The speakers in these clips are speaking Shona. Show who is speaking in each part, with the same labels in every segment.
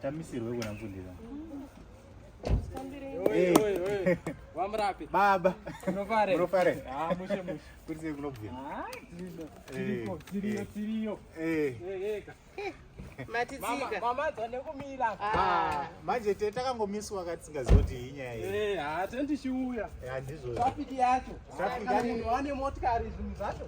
Speaker 1: tamisirwe kuna mfundira baba unofarei kurisei kunobvira manje te takangomiswa ka tisingaziva kuti inyaya yeatendichiuya handizvo trafiki yacho munhu ane motikari zvinhu zvacho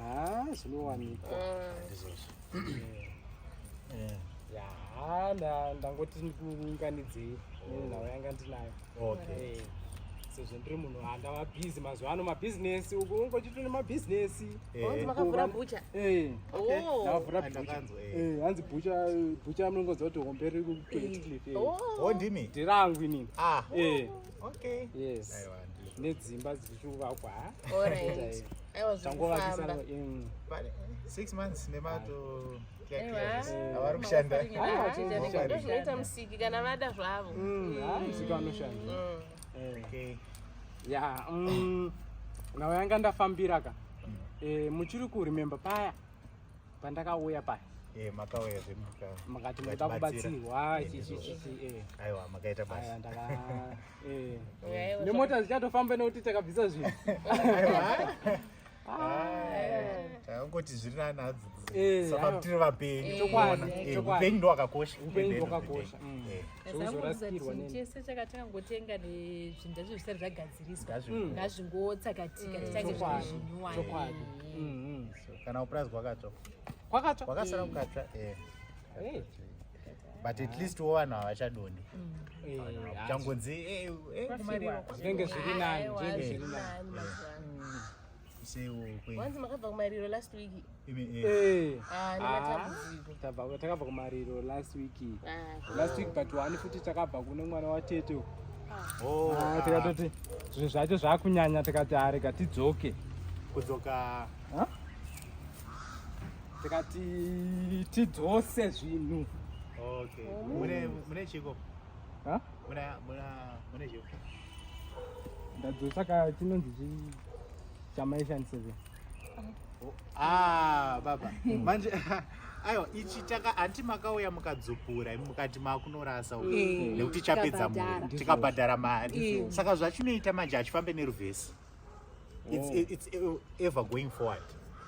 Speaker 1: Ah, zvinowanikwa. Eh. Yaa, nda- ndangoti ndikuunganidzei nenhau yanga ndinayo. Okay. Eh, Sezvo ndiri munhu andava busy mazuva ano mabhizinesi uku ungochitone mabhizinesi. Eh. Wanzi makavhura bucha. Eh. Oh. Ndavhura Ah, bhucha. ndakanzwa, eh. Eh, hanzi bhucha bhucha munongonzwa kuti hombe riri kuitwa Oh. Oh, ndimi? ndirangu inini Ah. Eh. Okay. Yes. Nedzimba dzichikuvakwa. All right. I was tangovakisana in 6 months nemato avari kushanda zvinoita musiki kana vada zvavo mm, ah, mm. musiki vanoshanda mm. eh. ya nawo yanga ndafambira ka eh, muchiri kurememba paya pandakauya paya eh, makauya zvemukati muda kubatsirwa eh. aiwa makaita basa eh. nemota zichatofamba nekuti takabvisa zvinhu takangoti zviri nani hadzi saka kutiri vapenyu upenyu ndo wakakosha upenyu ndo wakakosha chese chaka takangotenga nezvinhu zvacho zvisati zvagadziriswa ngazvingotsakatika tichange zviri zvinyuwani kana uprice kwakatsva kwakatsva kwakasara eh. kukatsva eh. eh but at least wo vanhu havachadoni mm. eh, changonzi zvinenge zviri nani wanzi makabva kumariro last week eh. ah, ah, takabva kumariro last week ah, last week but wani futi takabva kune mwana watete oh. tikatoti zvinhu zvacho zvakunyanya tikati arega tidzoke kudzoka tikati tidzose zvinhu okay oh. mune mune chiko ha muna muna mune chiko ndadzosa ka chinonzi chi chamaishan seven oh, ah baba hmm. manje aiwa ichi taka hanti makauya mukadzupura mukati makunorasa uku eh, nekuti chapedza mhuri tikabhadhara mari eh. saka zvachinoita manje hachifambe neruvhesi it's, oh. it's ever going forward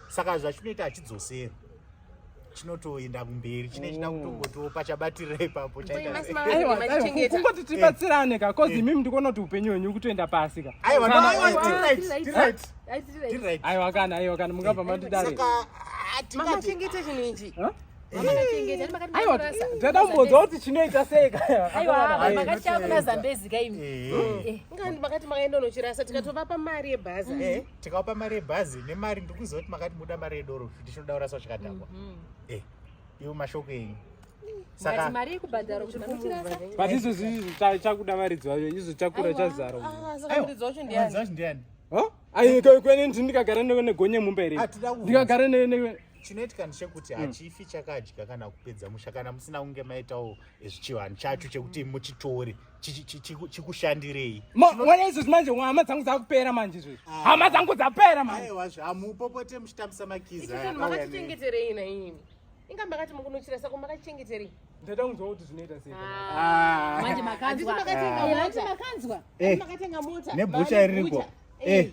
Speaker 1: saka zvachinoita hachidzoseri chinotoenda kumberi chine china mm. kutongotiwo pachabatirira ipapo chaitaikungoti tibatsirane ka bcause eh. imimi ndikuona kuti upenyu hwenyu kutoenda pasi ka aiwa kana aiwa kana mungabva matidari aiwa ndada kumbonzwa kuti chinoita sei kayaaakatiakunazambezi kaimimakati makaenda unochirasa tikatovapa mari yebhazi mm. eh, tikavapa mari yebhazi nemari ndikuziva kuti makati muda mari yedoro futi chinoda kurasa chikadhakwa mm-hmm. eh, ivo mashoko enyu but izvo zvinhu chakuda varidzi vayo izvo chakura chazara ah, kweni ndikagara newe negonye mumba here ndikagara newe chinoitika ndechekuti hmm. hachifi chakadya kana kupedza musha kana musina kunge maitawo zvichivanhu chacho chekuti muchitore chikushandirei mona izvozvi manje hama dzangu dzakupera manje izvozvi ah. hama dzangu dzapera maewazvi hamupopote muchitambisa makizamakachengeterei naimi inga makati mukunochira sako makachengeterei ndaida kunzwa kuti zvinoita seimanje ah. ah. makanzwa eh. nebhucha iriko eh.